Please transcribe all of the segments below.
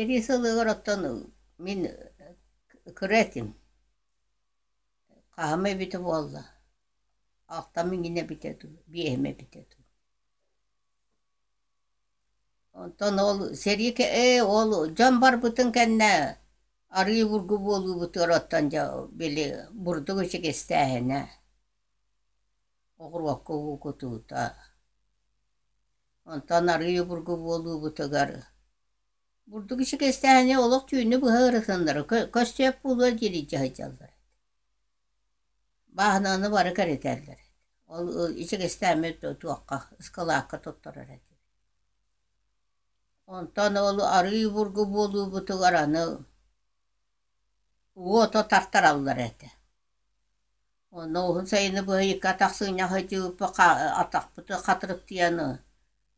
Сэрии сылыгар оттон мин кыра этим. Хаһыам эбитэ буолла. Ахтам иҥинэ эбитэ дуу, биэһим эбитэ дуу. Онтон ол сэрии кэ- ээ ол дьон барбытын кэннэ арыый обургу буолуубутугар оттон дьэ били бурдук ичигистээһинэ, оҕуруокка уу кутуута, онтон арыый обургу буолуубутугар бурдук ичигистээһини олох түүнү быһа ырытыннара кө- көстүөк буолуо диэри дьаһайдаллар Бааһынааны бары кэритэллэр этэ. Ол ичигэстээммит туохха, ыскылаакка туттарар этибит. Онтон ол арыы бургу буолуубутугар аны уото тартараллар этэ. Онно уһун сайыны быһа икки атах сыынньа сыдьыыппыт атахпытын хатырыктыйаны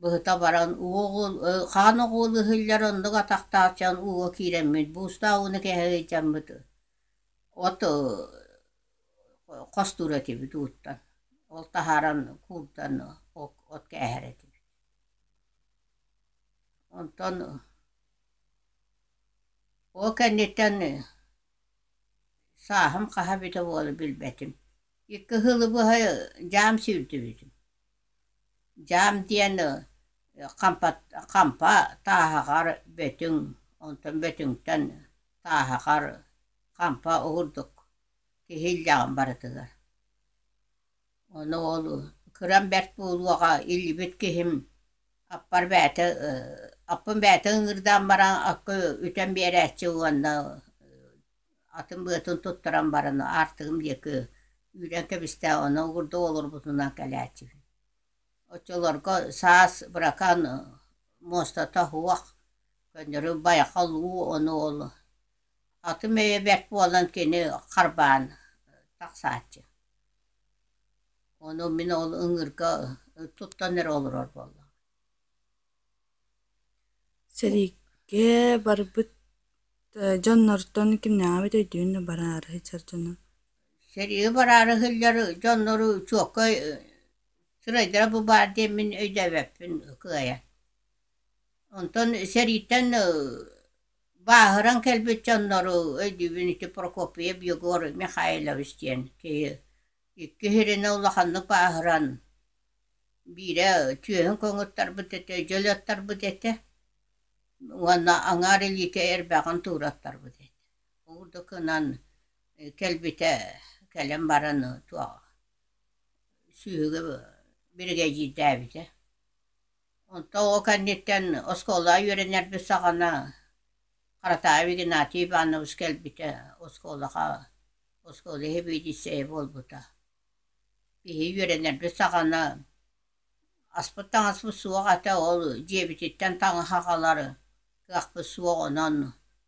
быһыта баран уол хаан оҕуолу иһиллэр оннук атахтааччыан ууга киирэммит буустаах ууну кэһэ сылдьаммыт От хостуур этибит ууттан, ол таһааран кууттан от кээһэр этибит. Онтон ол кэнниттэн сааһым хаһа эбитэ буолуо билбэтим. Икки сылы быһа дьаам сүүрдүбүтүм. Дьаам диэн хампа тааһаҕар бөтүҥ, онтон бөтүҥтэн Сааһахар хампа уурдук киһи иллэҕин барытыгар. Ону ол кырам бэрт буолуоҕа иллибит киһим аппар бэйэтэ аппын бэйэтэ ыҥыырдаан баран акка үтэн биэрээччи уонна атын-быатын туттаран баран аартыгым диэки үүрэн кэбистэ онно уурда олорбутунан кэлээччибин. Оччолорго саас быракаан муостата суох Көннөрү байхал уу ону ол атын мэйэ бэрт буолан кини харбаан тахсааччы. Ону мин ол ыҥыырга туттан эрэ олорор буолла. Сэриигэ барбыт дьоннортон кимнээҕи эбит өйдүүн да бараары сылдьар дьоно? Сэриигэ бараары сылдьар дьоннору чуоккай сырайдара бу баар диэн мин өйдөөбөппүн кыайан. Онтон сэрииттэн бааһыран кэлбит дьоннору өйдүүбүн ити Прокопьев Егор Михайлович диэн киһи икки сиринэ улаханнык бааһыран биирэ түөһүн көҥүттарбыт этэ дьөлөттөрбүт этэ уонна аҥаар илиитэ эрбэҕин туураттарбыт этэ ол да гынан кэлбитэ кэлэн баран туох сүүһүгэр биригэдьиирдээбитэ Онтон ол кэнниттэн оскуолаҕа үөрэнэрбит саҕана Харатаайап Игнатий Иванович кэлбитэ, оскуолаҕа, оскуола испедиция буолбута. Киһи үөрэнэрбит саҕана аспыт таҥаспыт суох этэ, ол дьиэбититтэн таҥаһы аҕалар кыахпыт суох, онон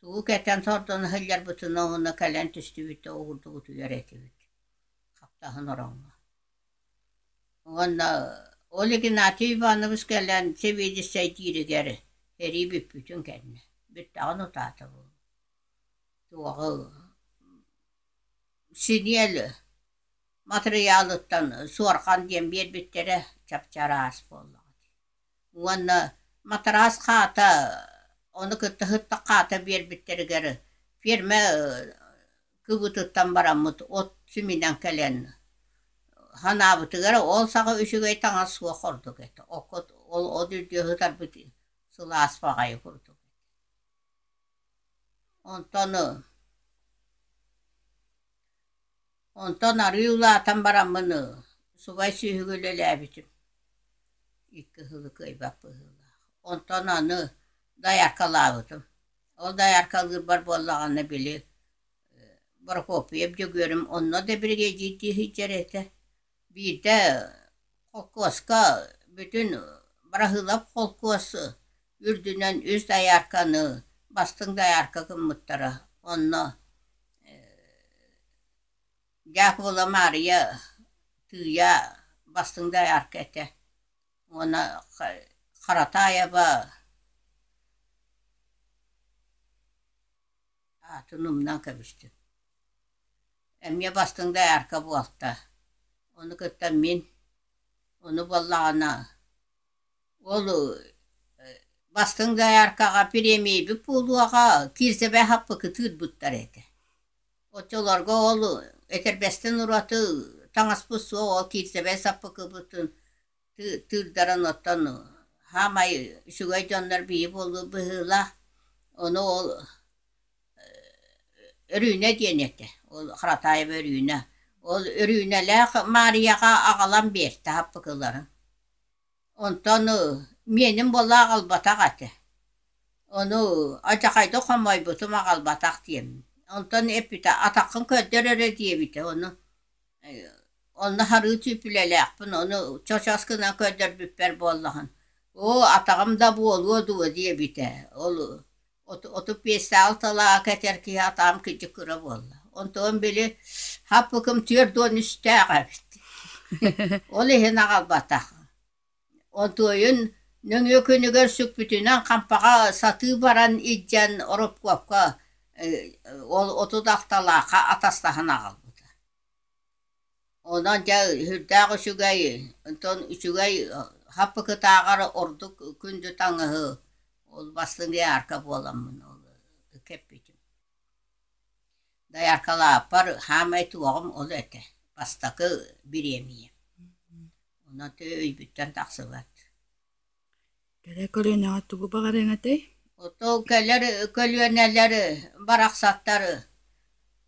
тугу кэтэн сордоно сылдьарбытына уонна кэлэн түстүбүттэ уурдубутугар этибит. Хаптаһын ороҥҥо Уонна ол Игнатий Иванович кэлэн сэбиэдиссэйдииригэр сэрии бүппүтүн кэннэ бүттэҕин утаата буолуо. Туоҕу синиэл матырыйаалыттан суорҕан диэн биэрбиттэрэ чапчар аас буоллаҕа дии уонна матараас хаата ону кытта сытта хаата биэрбиттэригэр ферма кыбытыттан бараммыт от симинэн кэлэн санаабытыгар ол саҕа үчүгэй таҥас суох ордук этэ окко ол от үрдүө сытарбыт сылаас баҕайы курдук онтон Онтон арыы улаатан бараммын ыы сугай сүөһүгү үлэлээбитим икки ыһылы кыайбат быһыылаах. Онтон аны дайааркалаабытым. Ол дайааркалыырбар буоллаҕына били Прокопьев Дьөгүөрүм онно да биригэдьиирдии сылдьар этэ Биирдэ холкуоска бүтүн быраһыылап холкуос үрдүнэн үс доярканы бастыҥ доярка гыммыттара онно Дьаакыбыла Маарыйа Тыыйа бастыҥ доярка этэ уонна Харатаева Аатын умнан кэбистим. Эмиэ бастыҥ доярка буолта. Ону кытта мин, ону буоллаҕына ол бастыҥ дояркаҕа премейбит буолуоҕа кирзэбэһаппыкытыыр буттар этэ. Оччолорго ол этэрбэстин ураты таҥаспыт суох ол кирзэбэй саппыкыбытын тыырдаран оттон саамай үчүгэй дьоннор бии буолуу быһыылаах ону ол Өрүүнэ диэн этэ ол Харатаева Өрүүнэ ол Өрүүнэлээх Маарыйаҕа аҕалан биэртэ хаппыкыларын онтон миэним буолла аҕалбатах этэ ону адьахайдык хомойбутум аҕалбатах диэммин онтон эппитэ атаххын көрдөр эрэ диэбитэ ону Онно харыытыып үлэлээхпин, ону чочос гынан көрдөрбүппэр буоллаҕын, оо атаҕым да буолуо дуо диэбитэ, ол отут биэстээх алталааҕа кэтэр киһи атаҕым кырдьык кыра буолла. Онтон били хаппыкым түөрт уон үстээх эбит, ол иһин аҕалбатах. Одуойун нөҥүө күнүгэр сүкпүтүнэн хампаҕа сатыы баран илдьэн Рыбковка ол оту Тахталаахха атастаһан аҕалбыта. Онон дьэ сүрдээх үчүгэй, онтон үчүгэй хаппыкытааҕар ордук күндү таҥаһы ол бастыҥ доярка буоламмын ол кэппитим. Дояркалааппар хаамай туоҕум ол этэ бастакы бириэмийэ. Онон өйбүттэн тахсыбат. Кэлэ көлүөнэҕэ тугу баҕарыаҥ этэй? Оттон кэлэр көлүөнэлэр барахсаттары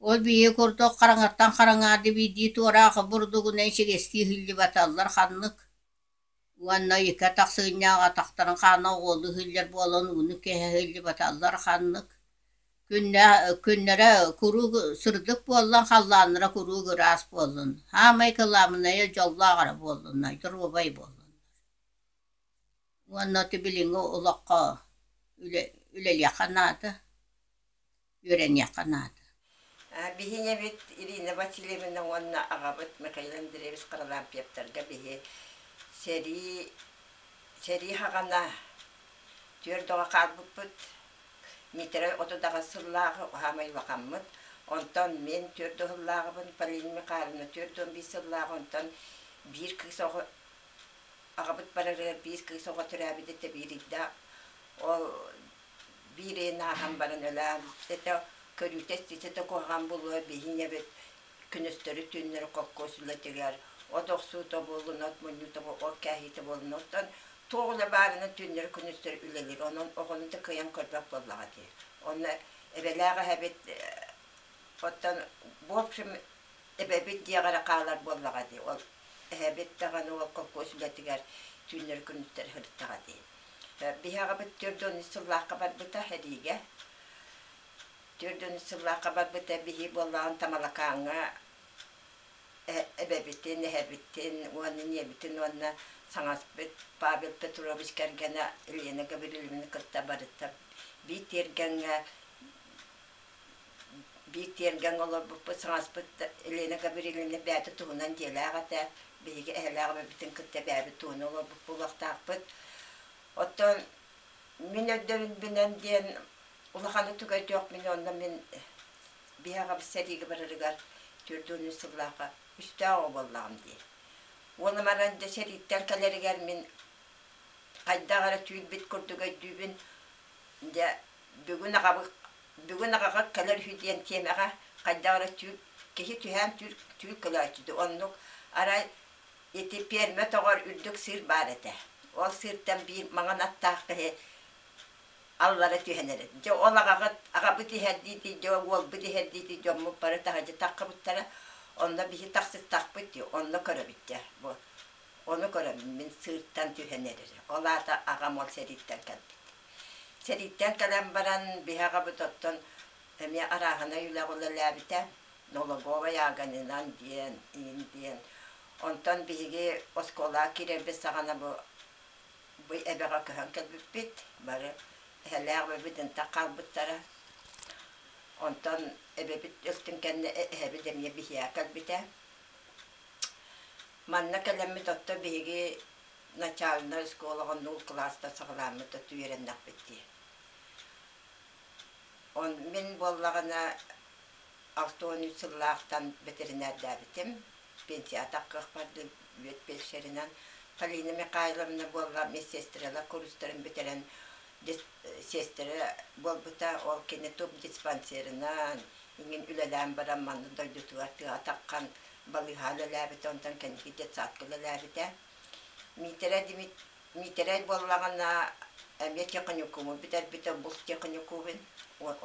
ол биһиги курдук хараҥаттан хараҥаарды биирдии туораах бурдугунан сигэстии иһиллибаталлар ханнык уонна икки атах сыынньаах атахтарын хаана оҕуолуу иһиллэр буолан ууну кэһэ иһиллибаталлар ханнык Күннэрэ куруук сырдык буоллун, халлааннара куруук ыраас буоллун, саамай кылаабынайа дьоллоох эрэ буоллунна, доруобай буоллун. Уонна ити билиҥҥи олоххо үлэ, үлэлиэххэ наада, үөрэниэххэ наада. Биһиги эбит Ирина Васильевна уонна аҕабыт Михаил Андреевич Харалаампьептарга биһи сэрии, сэрии хаҕана түөрт оҕо хаалбыппыт, Митрой отудаҕас сыллааҕы саамай улахаммыт, онтон мин түөрт уһуллааҕыбын, Полина Михайловна түөрт уон биис сыллааҕы, онтон биир кыыс оҕо аҕабыт барарыгар биир кыыс оҕо төрөөбүт этэ биирийдэ. Ол биир ыйын ааһан баран өлөөн, этэ көрүүтэ ситэ да куһаҕан буолуо, биһинэбит күнүстэри түүннэри хоккуосула тигэр, от охсуута буоллунат, мунньуута ол кээһиитэ буоллунуттан туох үлэ баарынан түүннэри-күнүстэри үлэлиир. Онон оҕону да кыайан көрбөк буоллаҕа дии. Онно эбэлээх эһэбит оттон в общем эбэбит диэҕэ эрэ хаалар буоллаҕа дии. Ол эһэбит даҕаны ол холкуос үлэтигэр түүннэри-күнүстэри сырыттаҕа дии. Биһиэхэбит түөрт уон сыллаахха барбыта эриигэ. Түөрт сыллаахха барбыта биһи буоллаҕын Тамалакааҥҥа эбэбитин, эһэбитин уонна ийэбитин уонна саҥаспыт Павел Петрович кэргэнэ Лена Гаврилованы кытта барыта биир тиэргэҥҥэ биир тиэргэн олорбуппут саҥаспыт Лена Гавриловна бэйэтэ туһунан дьиэлээх этэ биһиги эһэлээх эбэбитин кытта бэйэбит туһунан олорбут буолуохтаахпыт оттон мин өйдөбүлбүнэн диэн Улаханы түгэтүөх мин онно мин биһаҕам сэриигэ барарыгар төрдүөнү сыллааха үстээх оҕо буоллаҕым дии. Уола баран дьэ сэрииттэн кэлэригэр мин хайдах эрэ түүрбүт курдук өйдүүбүн. Дьэ бүгүн аҕабы бүгүн аҕаҕа кэлэр үһү диэн тиэмэҕэ хайдах эрэ түүр киһи түһээн түүр түүр кылааччы дии. Оннук арай ити пиэрмэ тоҕор үрдүк сыыр баар этэ. Ол сыыртан биир маҥан аттаах киһи аллара түһэн эрэр. Дьэ, ол аҕаҕыт, аҕабыт иһэрдиитий, дьэ, уолбут иһэрдиитий, дьоммут бары таһырдьа таххыбыттара. Онно биһи тахсыттахпыт дии, онно көрөбүт дьэ, бу. Ону көрөн мин сыыртан түһэн эрэрэ. Ол аата аҕам ол сэрииттэн кэлбит. Сэрииттэн кэлэн баран, биһи аҕабыт оттон эмиэ арааһынай үлэҕэ үлэлээбитэ. Noloговой Аганинан диэн, иин диэн. Онтон биһиги оскуолаҕа киирэрбит саҕана бу бу эбэҕэ көһөн кэлбиппит бары эһэлээх эбэбит ынтах хаалбыттара онтон эбэбит өлтүн кэннэ эһэбит эмиэ биһиэхэ кэлбитэ манна кэлэммит оттон биһиги начальнай оскуолаҕа нуул кылаастан саҕалааммыт үөрэннэхпит дии он мин буоллаҕына Алтонь сыллаахтан бэтэринээрдээбитим, пенсията кыахпардыы бүөт пещеринэн Полина Михайловна буолла медсестрала курстарын бүтэрэн сестра буолбута, ол кини тубдиспансерынан иҥин үлэлээн баран манна дойдутугар тыа атаххан балыыһаан үлэлээбитэ, онтон кэнники детсадка үлэлээбитэ. Митра Дмит Миитэрэй буоллаҕына, эмиэ техникуму бүтэрбитэ, булт техникубун,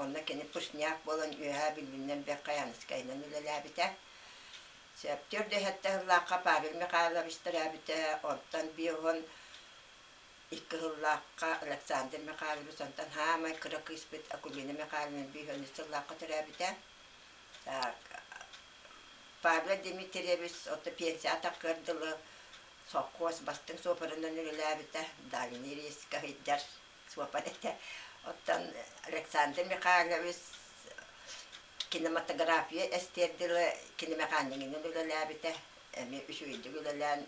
онно кини пушняк буолан үөһээ билбиннэн бэххайааныскайынан үлэлээбитэ. Сөптөөр да иһэттэ сыллаахха Павел Михайлович төрөөбүтэ, онтон биоһун икки сыллаахха Александр Михайлович, онтон хаамай кыра кыыспыт Акулина Михайловна биоһунньук сыллаахха төрөөбүтэ. Так, Павел Дмитриевич, отто пенсия атаккар дылы Сопхуос бастыҥ суопарынан үлэлээбитэ, дальний рейс каһыйдар суопар этэ. Оттон Александр Михайлович кинематография эстиэрдила кинемеханикинен үлэлээбитэ. Эми үчүгэйдик үлэлээн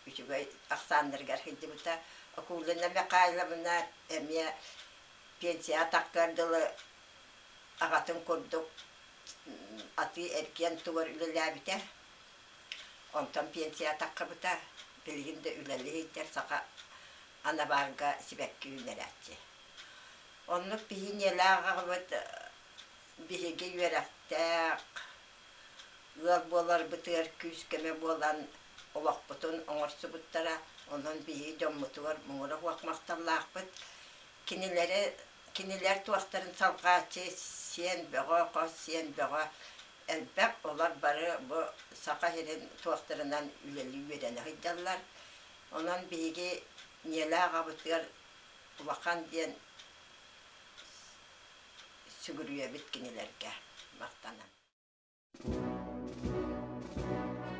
үчүгэй ахсааннарыгар сылдьыбыта. Окулина Михайловна эмиэ пенсияҕа тахсар дылы аҕатын курдук атыы-эргиэн тугар үлэлээбитэ. Онтон пенсия таххабыта, билигин да үлэлии сылдьар саха анабаарга сибэкки үүннэрээччи. Оннук биһиниэлээх аҕабыт биһиги үөрэхтээх ыал буоларбытыгар күүс-көмө буолан олохпутун оҥорсубуттара. Онон биһиги дьоммутугар муҥура суох махталлаахпыт. Кинилэри, кинилэр туохтарын салҕааччы сиэн бөҕө, хос сиэн бөҕө элбэх олор бары бу Саха сирин туохтарынан үлэлии үөрэнэ сылдьаллар. Онон биһиги Ньиэлэ аҕабытыгар Улахан диэн сүгүрүйэбит кинилэргэ махтанан.